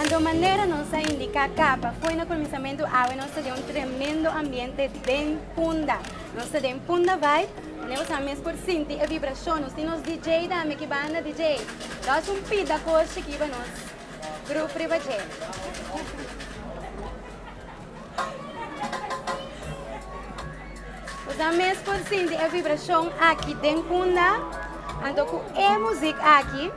Anto manera nos a indiká kaba fo'i na kuminsamentu awe nos ta den un tremendo ambiente den Punda. Nos ta den Punda Vibe, manera ku asina mes por sinti e vibrashon. Nos tin nos DJ tambe ki banda DJ Dosum Pita Koshi kiba nos. Grup riba dje. Nos a mes por sinti e vibrashon aki den kunda. Anto ku e muzik aki,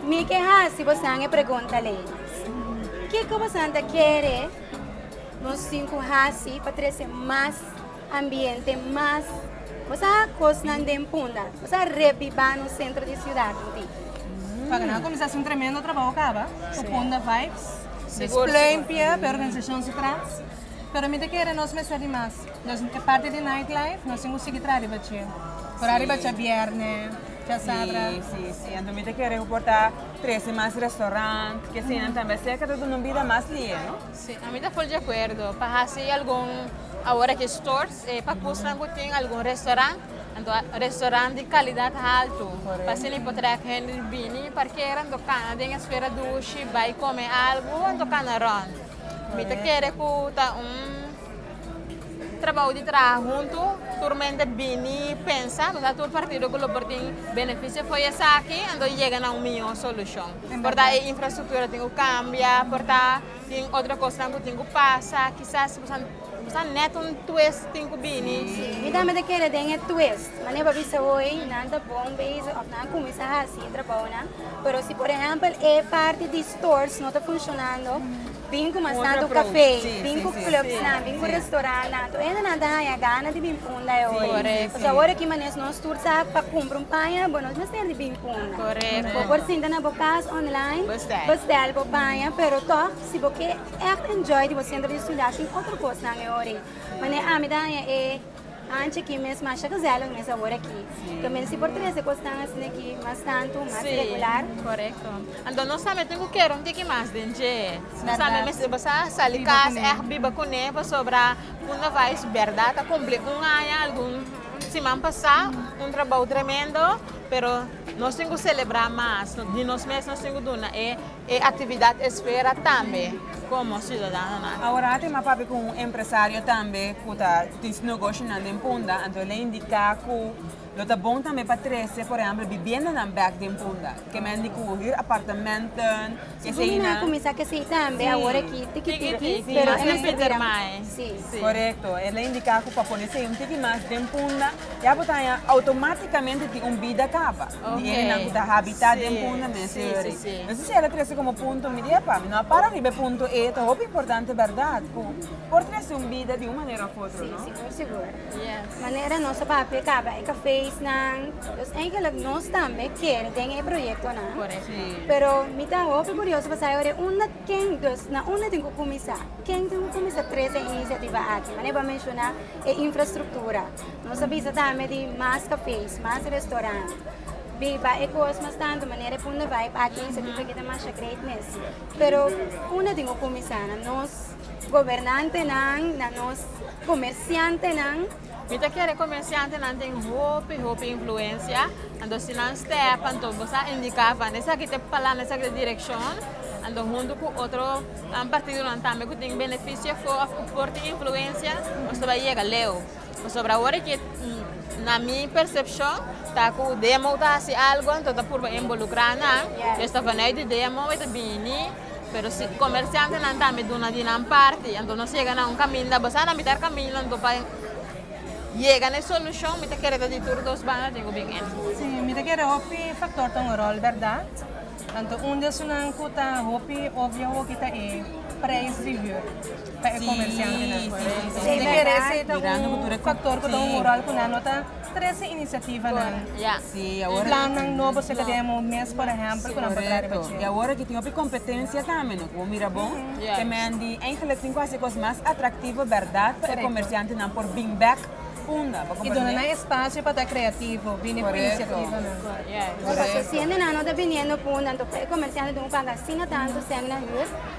mi ke hasi bosan e pregunta lei. Kiko bosan ta kere nos tin ku hasi pa trese mas Ambiente mas Bosa kosnan den punda Bosa rebiba nos sentro di siudat un tiki. Paga nan a kuminsá haci un tremendo trabaho kaba ku punda vibes Des plein pia p'e organisacion su tras pero mi ta kere nos mester di mas Nos e parti di night life nos tin ku sigui traha riba dje ora riba dje bierne dje sabra Si si anto mi ta kere ku por ta trese mas restaurant kesinan tambe aserka ta duna un bida mas lihe no. Sí, ami ta full di acuerdo pa haci algun awor aki stores eh, pa cusnan cu tin algun restaurant, anto restaurant di calidad halto, pa asina e por track hende di bini parkera anto cana den e sfera dushi bay come algo anto cana rond. Mi ta kere cu ta un trabou di traha hunto, tur mente bini pensa, nos a tur partido cu lo por tin beneficio fo'i esaki, anto yega na un miyo solucion. Por ta e infrastruktura tin ku kambia, por ta tin otro kosnan ku tin ku pasa, kisas bo sa bo sa nèt un twist tin ku bini. Sí, mi tambe ta kere den e twist, mane bo a bisa hoy nan ta bon bezig òf nan a kuminsá hasi e trabaonan, pero si por ehèmpel e parti di stores no ta funshonando, Bin ku masnan tu kafé, bin ku clubsnan, bin ku restorantnan. Tur hendenan ta haña gana di bin punda e ora. Pasobra awor aki manes nos tur sa pa kumpra un paña, bo nos mester di bin punda. Bo por sinta na bo kas online, bestel bo paña, pero tòg si bo ke èkt enjoy di bo senter di studia shin otro kosnan e ora ei. Mane ami ta haña e. Anchi aki mes masha gezellig mes awor aki lo mester si por trece cos tan asina aki mas tanto mas Sí. regular. Correcto. Anto nos tambe tin cu kero un tiki mas den dje. Nos Verdad. tambe mester basa sali Biba cas cuné. echt biba cuné pasobra Punda Vice berdad a cumpli un aña algun siman pasa, un trabou tremendo pero nos tin cu celebra mas di nos mes nos tin cu duna e e actividad esfera tambe. Komo siudadanonan. Awor a tin mas papia ku un empresario tambe ku ta ku tin su negoshonan den Punda, anto el a indiká ku lo ta bon tambe pa trese, por ehèmpel, bibiendanan bèk den Punda. Ke mende ku hür apartamentnan, ke esei nan. Su gumi a kuminsá ke esei tambe, awor aki tiki tiki, pero e mester bira mas. Sí. Korekto. El a indiká ku pa pone esei un tiki mas den Punda. Ya bo ta haña automáticamente tin un bida kaba di hendenan ku ta habitá den punto mes e ora ei. Nos a siña ta trese komo punto mi di e pa mi, no a para riba e punto ei, ta hopi importante bèrdat ku por trese un bida di un manera òf otro, no? Sí, por sigur. Manera nos a papia kaba e kafésnan, los eigenlik nos tambe kier den e proyektonan, pero mi ta hopi kurioso pasaje ora e unda. Ken dus na unda tin ku kuminsá? Ken tin ku kuminsá trese e inisiativa aki? Manera bo a menshoná e infrastruktura. Nos a bisa tambe di mas kafes, mas restorant, biba e kos mas tantu manera e Punda Vibe aki, e inisiativa aki ta masha great mes. Pero unda tin ku kuminsá? Na nos gobernantenan, na nos komersiantenan. Mi ta kere comerciantenan tin hopi hopi influencia, anto si nan step anto bo sa indica van esaki ta e palan esaki ta e direccion, anto hunto cu otro partidonan tambe cu tin beneficio afo of cu por tin influencia nos ta bay yega leu, pasobra awor e na mi percepcion ta cu demo ta haci algo anto ta purba involucra nan, ellos ta vanuit di demo y ta bini Pero si comerciantenan tambe duna di nan parti anto nos yega na un caminda basá na mitar camino anto pa yega na e solucion mi ta kere ta di tur dos banda tin cu bin en. Sí, mi ta kere hopi factor ta un rol berdad, anto un di esunnan cu ta hopi obvio awoki ta e prijs di huur pa e comerciantenan. Mi ta kere esey ta un factor cu ta un rol cu nan no ta. Trece iniciativanan, plannan nobo si ta den un mes por ehempel cu nan por traha riba dje. Y awor cu tin hopi competencia tambe no, cu bo mira bon, te mendi eigenlijk tin cu hasi e cos mas atractivo berdad pa e comerciantenan por bin bek unda. Bo comprende? Y duna nan espacio pa ta creativo, bini cu iniciativanan. Correcto. Pasobra sientenan no ta biniendo punda, entonces e comerciantenan tin cu paga asina tanto cen na huur.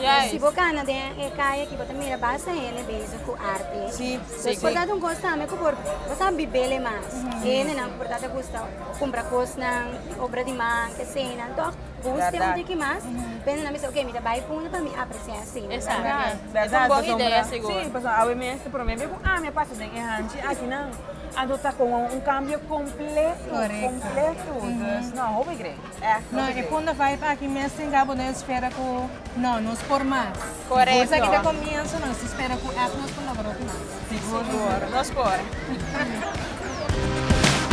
Yes. Si bo kanda den e kaya aki bo ta mira basta hende bezig ku arte. Sí, sí, por sí. tabata un kos tambe ku por bo sa bibele mas. Hendenan ku por tabata gusta kumpra kosnan, obra di man, eseinan, tòg bo ust'e un Verdad. tiki mas, pensa nan mester oke mi ta bai punta pa mi apresiá e seinan. Exacto. Verdad. Yes. Verdad, Es un bon pasobra- idea, sigur. Sí, pasobra awe mes, prome be ku ami a pasa den e hanchi akinan, anto ta como un cambio completo, Correcto. completo. Dus no, hopi grei. No, e punda vibe aki mes tin cabo no espera cu no, nos por mas. Correcto. Cosa aki ta comienzo nos ta spera cu ep nos por logra otro mas. Sigur, sigur. Nos por.